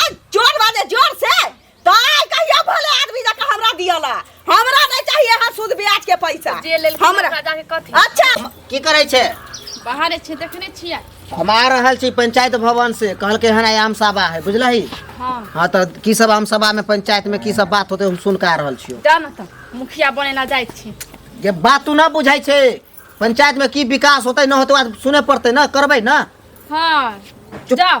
आ जोर बाजे जोर से तो आय कहियो भोले आदमी जका हमरा दियला हमरा नहीं चाहिए हां सूद ब्याज के पैसा जे लेल हमरा हमरा जाके कथी अच्छा की करै छै बाहर छै देखने छियै हम आ रहल छी पंचायत भवन से कहलकै हन आइ आम सभा है बुझलही हाँ हाँ तऽ की सब आम सभा में पंचायत में की सब बात होते हम सुन के आ रहल छियो जान त मुखिया बने ला जाइ छी ये बात तू ना बुझाई छै पंचायत में की विकास होते न होते बात सुने पड़ते न करबै न हाँ चुप। जाओ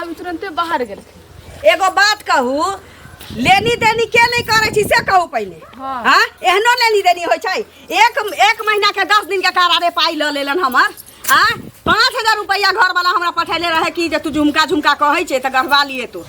अभी तुरंते बाहर गेल एगो बात कहू लेनी देनी के नहीं करे छी से कहू पहले हाँ। हाँ एहनो लेनी देनी होय छै एक एक महीना के दस दिन के करारे पाई ल लेलन हमर हाँ पाँच हजार रुपया घर वाला हमरा पठेले रहे कि जे तू झुमका झुमका कहै छै तऽ गढ़वा लिए तू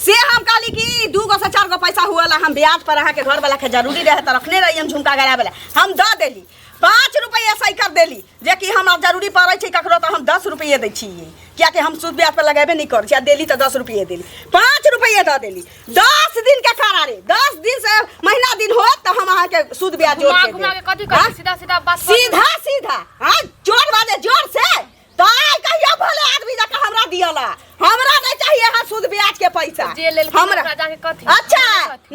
से हम कहली कि दू गो से चार गो पैसा हुअला हम ब्याज पर अहाँके घर वाला के जरूरी रहे तऽ रखने रही हम झुमका गड़ा वाला हम दऽ देली पाँच रुपैआ सही कर देली जे कि हमरा जरूरी पड़ै छै ककरो तऽ हम दस रुपैए दै छियै किएकि हम सूद ब्याज पर लगेबे नहि करै छी आ देली तऽ दस रुपैए देली पाँच रुपैए दऽ देली दस दिन के करा रे दस दिन से महीना दिन होत तऽ हम अहाँके सूद ब्याज जोड़ घुमा के घुमा के कथी देब। करबी हाँ? सीधा सीधा बात कर सीधा सीधा हाँ जोर वाले जोर से पाय कहिया भले आदमी जका हमरा दियला हमरा नहीं चाहिए हां सूद ब्याज के पैसा जे लेल हमरा राजा के कथी अच्छा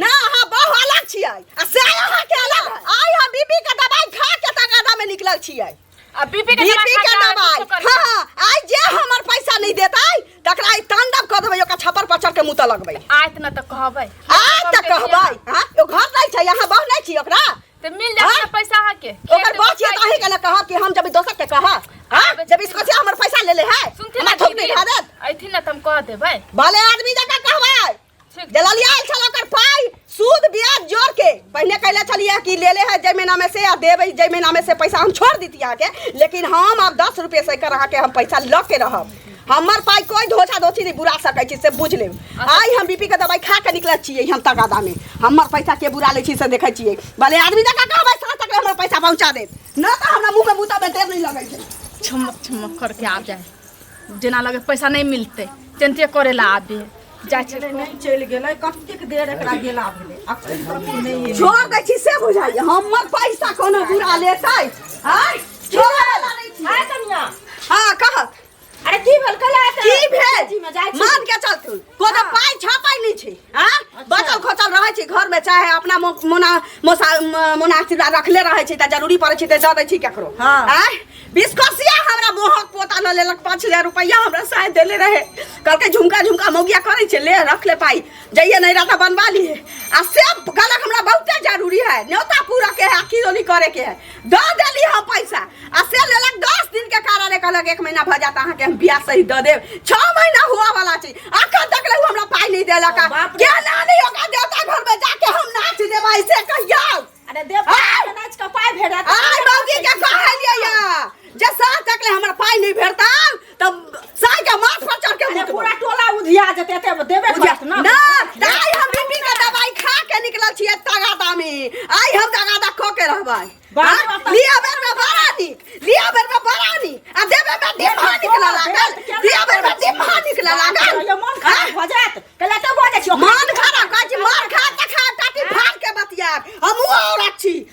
ना हां बहु अलग छिए आ से हां के अलग आय हां बीपी के दवाई खा के तगादा में निकलल छिए आ बीपी के बीपी के दवाई हां हाँ, आय जे हमर पैसा नहीं देतै तकरा ई तांडव क देबै ओका छपर पचर के मुता लगबै आज न त कहबै आज त कहबै हां ओ घर नै छै यहां बहु नै छी ओकरा ते मिल जाए हाँ? पैसा अहाँ के ओकर बात ये काहे कला कहा कि हम जब दोसर के कहा हां जब इसको से हमर पैसा ले ले है सुनते ना थोक दे हादत आइथिन ना तम कह दे भाई भले आदमी जका कहबे जलालिया आइल छल ओकर पाई सूद ब्याज जोड़ के पहले कहले छलिए कि ले ले है जय महीना में से आ देबे जय महीना में से पैसा हम छोड़ दीतिया के लेकिन हम अब दस रुपये से कर के हम पैसा लऽ के रहब हमर पाई कोई धोछा धोछी नहीं बुरा सकै छी से बुझ लेब आइ हम बीपी के दवाई खा के निकलल छियै हम तकादा में हमर पैसा के बुरा लै छी से देखै छियै भले आदमी जकाँ कहबै साँझ तक हमर पैसा पहुँचा देत न तऽ हमरा मुँह में बूता में देर नहीं लगै छै छमक छमक करके आ जाए जेना लगे पैसा नहीं मिलते तेनते करे ला आबे जाए छै गेलै नहि चलि गेलै कतेक देर एकरा गेला भेलै अखन तक ई नहि एलै। छोड़ दै छी से बुझाइए हमर पैसा कोनो बुरा लेतै आँय छोड़ दै छी। आय कनिया हाँ कहत अरे की भेल कल आते की भेल जी में जाय छी मान के चलतु को तो पाई छापाई नहीं छी हां बचल खोचल रहै छी घर में चाहे अपना मो- मोना मोसा म- मोना सिरा रखले रहै छी त जरूरी पड़ै छी त जा दै छी केकरो हाँ। आय बिस्कोसिया हमरा मोहक पोता न लेलक 5000 रुपया हमरा साय देले रहे कहलकै झुमका झुमका मौगिया करै छै ले रख ले पाई जइए नहीं रहता बनवा लिए आ से कहलक हमरा बहुते जरूरी है न्योता पूरा के है किरोनी करे के है द देली हम पैसा आ से लेलक दस दिन के कारण ले कहलक एक महीना भऽ जात अहाँके हम ब्याज सहित दऽ देब छओ महीना हुआ वाला छै अखन तक ले उ हमरा पाइ नहि देलक आ। बाप रे। के नानी ओकरा देवता घर में जाके हम नाच देबै से कहिया अरे देव आय! नाच के पाय भेड़ा आय बाबूजी के कहलियै या जे साँझ तक ले हमरा पाइ नहि भेटतै तब साई के माथ पर चढ़ के अरे मुतबो। पूरा टोला उधिया जेते एते देबे बुझा- करत ना ना, ताई हम बीपी के दवाई खा के निकलल छियै तगादा में। आइ हम तगादा खो के रहबै। बाप हाँ? रे बाप। लिअ बेर में बड़ा नीक, लिअ बेर में बड़ा नीक, आ देबे में डिम्हा निकलऽ लागल, दिअ बेर में डिम्हा निकलऽ लागल। ये मन खराब हाँ? भ जात कला त बजे छियो मन खराब कहै छी, मन खा तऽ खा, टाटी फाड़ के बतियाब। हमहूँ औरत छी,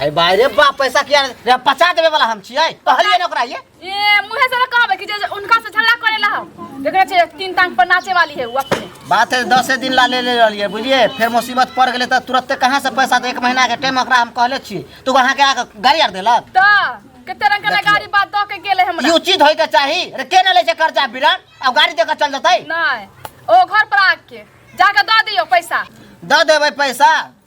हे भाई रे बाप पैसा किया रे पचा देवे वाला हम छियै कहलिए न ओकरा ये ए मुहे से ना कहबे कि जे जे उनका से झगड़ा करे ला हम देखरे छे तीन टांग पर नाचे वाली है वो अपने बात है दसे दिन ला ले ले रहलिए बुझिए फिर मुसीबत पड़ गेलै तऽ तुरते कहाँ से पैसा दे एक महीना के टाइम ओकरा हम कहले छी तू अहाँ के आके गाड़ी आर देलक त कते रंग के देखिए। गाड़ी बात द के गेले हमरा ई उचित होय के चाही रे के न लै छै कर्जा बिरन अब गाड़ी दे के चल जतै नहीं ओ घर पर आके जाके द दियो पैसा दऽ देबै पैसा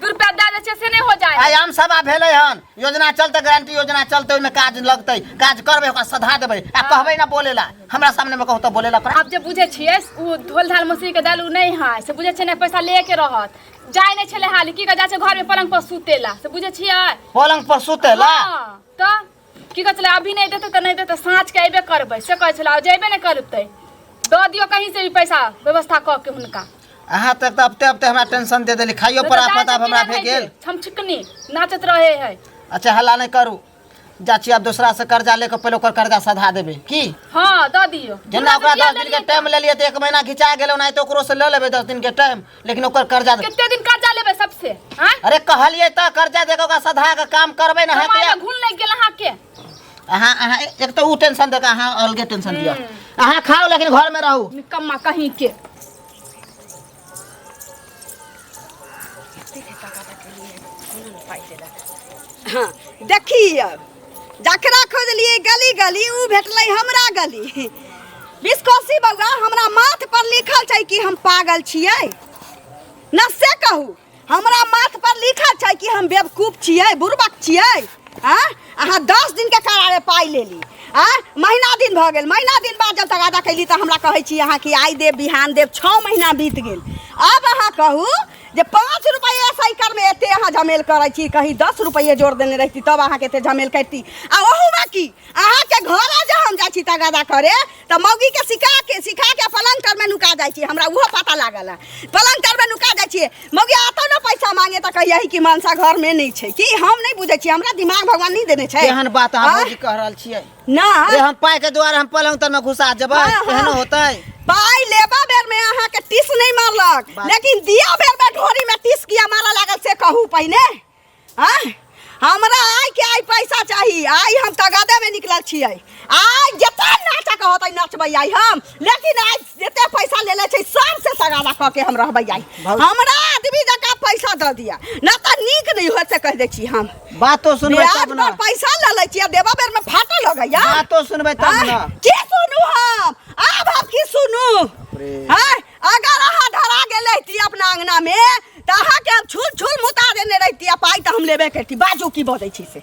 दू रुपया दे दे छै से नहीं हो जाए आयाम सभा भेले हन योजना चलते गारंटी योजना चलते ओहिमे काज लगते काज करबे ओकरा सधा देबे आ हाँ। कहबे ना बोलेला हमरा सामने में कहू तो बोलेला पर आप जे बुझे छिए ओ धोल धाल मसीह के दल उ नहीं है से बुझे छै ना पैसा ले के रहत जाय नहीं छले हाल की के जा छै घर में पलंग पर सुतेला से बुझे छिए पलंग पर सुतेला हाँ, तो की कहै छलै अभी नहि देतै तऽ नहि देतै साँझके अयबे करबै से कहै छलै आ जेबे नहि करतै दऽ दियौ कहीं से भी पैसा व्यवस्था कऽ के हुनका अहाँ तक तऽ अबते अबते हमरा टेंशन दे देली खाइयो पर आफत आब हमरा भे गेल हम छिकनी नाचत रहे है अच्छा हल्ला नहीं करू जा छी आब दोसरा से कर्जा लेके पहले ओकर कर्जा सधा देबे की हां द दियो जेना ओकरा 10 दिन के टाइम ले लिए त एक महीना घिचा गेल ओना तो ओकरो से ले लेबे 10 दिन के टाइम लेकिन ओकर कर्जा दे- कितने दिन कर्जा लेबे सबसे हाँ अरे कहलिए तो कर्जा देके ओकरा सधा के काम करबे ना हमारे हेते घुल नहीं गेल अहाँ के अहाँ अहाँ एक तो ऊ टेंशन देके अहाँ अलगे टेंशन दिया अहाँ खाओ लेकिन घर में रहू निकम्मा कहीं के हाँ देखी अब जकरा खोजलिए गली गली उ भेटले हमरा गली बिस्कोसी बउआ हमरा माथ पर लिखल छै कि हम पागल छिए न से कहू हमरा माथ पर लिखल छै कि हम बेवकूफ छिए बुरबक छिए आ अहाँ दस दिन के करारे पाई लेली आ महीना दिन भऽ गेल महीना दिन बाद जब तगादा कैली तऽ हमरा कहै छी अहाँ कि आइ देब बिहान देब छओ महीना बीत गेल अब अहाँ कहू जे पाँच रुपये साइकिल में एते अहाँ झमेल करै छी कहीं दस रुपये जोड़ देने रहती तब अहाँ के एते झमेल करती आ ओहू में की अहाँ के घर जे हम जाइ छी तगादा करे तऽ मौगी के सिखा के सिखा के पलंग तर में नुका जाइ छी हमरा उहो पता लागल है पलंग तर में नुका जाइ छी मौगी आतो न पैसा मांगे तऽ कहिया कि मानसा घर में नहीं छै कि हम नहीं बुझे छी हमरा दिमाग भगवान नहीं देने छै एहन बात अहाँ आँय? भौजी कह रहल छियै नहि ए, हम पाइ के दुआरे हम पलंग तर में घुसा जेबै हाँ, हाँ। एहनो होतै पाई लेबा बेर में अहाँ के टिस नहीं मारलक बात- लेकिन दिया बेर में ढोरी में टिस किया मारा लागल से कहू पहिने हाँ? हमरा आय के आय पैसा चाही आय हम तगादे में निकलल छियै आय जते नाचक होतै नचबै आय हम लेकिन आय जते पैसा लेले छै सबसे सगावा कऽ के हम रहबै आई भौजी। हमरा आदमी जका पैसा दऽ दिया ना तऽ नीक नहि होय से कह दै छी हम बातो सुनबै ब्याज तब ने पर पैसा लऽ लै छियै देबा बेर में फाटऽ लगैया बातो सुनबै तब ने आँय, की सुनू हम आब हम की सुनू रे। आँय, अगर अहाँ धरा गेल रहिती अपना अंगना में तऽ अहाँके हम छुल छुल मुता देने रहिती आ पाइ तऽ हम लेबे करती बाजू की बजै छी से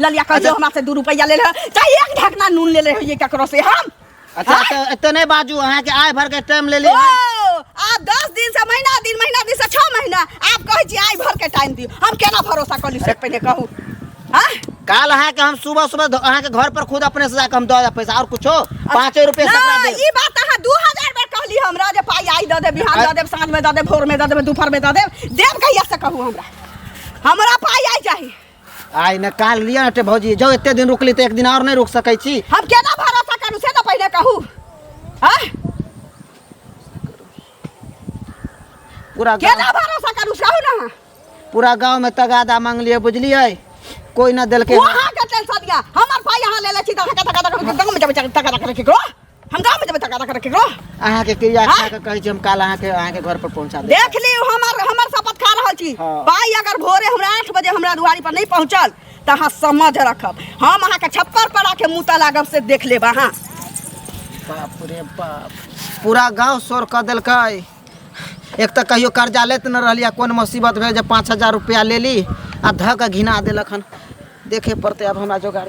ललिया कह अच्छा। जो हमरा से दू रुपया ले रहे चाहे एक ढकना नून ले रहे होइए ककरो से हम अच्छा तो इतने नहीं बाजू अहाँ के आय भर के टाइम ले ली ओ आप दस दिन से महीना दिन महीना दिन से छह महीना आप कहे छी आई भर के टाइम दियो हम केना भरोसा कर ली से पहले कहू हाँ काल अहाँ के हम सुबह सुबह ध- अहाँ के घर पर खुद अपने से जाके हम दे देब पैसा और कुछो पाँचे रुपए से ना, दे ई बात अहाँ दू हजार बेर कहली हमरा जे पाई आई दऽ देब बिहान दऽ देब साँझ में दऽ देब भोर में दऽ देब दुपहर में दऽ देब देब कहिया से कहू हमरा हमरा पाई आई चाही आइ ने काल लिया हटे भौजी जो एते दिन रुकली त एक दिन और नहीं रुक सकै छी हम केना भरोसा करू से तो पहले कहू हां पूरा गाँव- केना भरोसा करू कहू ना पूरा गांव में तगादा मांगलिए बुझलिए कोई ना देलके वहां के टेंशन दिया हमर पाई यहां ले ले छी त हका तका तका गांव में जब तका तका रखी को हम गाँव में जब तक तक रखे करो अहाँ के क्रिया खा के कहै छी हम काल अहाँ के अहाँ के घर पर पहुंचा देब देख ली हमर हमर शपथ खा रहल छी हाँ। भाई अगर भोरे हमरा आठ बजे हमरा दुआरी पर नहीं पहुंचल तो अहाँ समझ रखब हम अहाँ के छप्पर पर आके मुता लागब से देख लेब अहाँ बाप रे बाप पूरा गांव शोर कर देलकै एक तऽ कहियो कर्जा लेत न रहली आ कोन मुसीबत भेल जे पाँच हजार रुपया लेली आ धऽ कऽ घिना देलक हन देखे पड़तै आब हमरा जोगाड़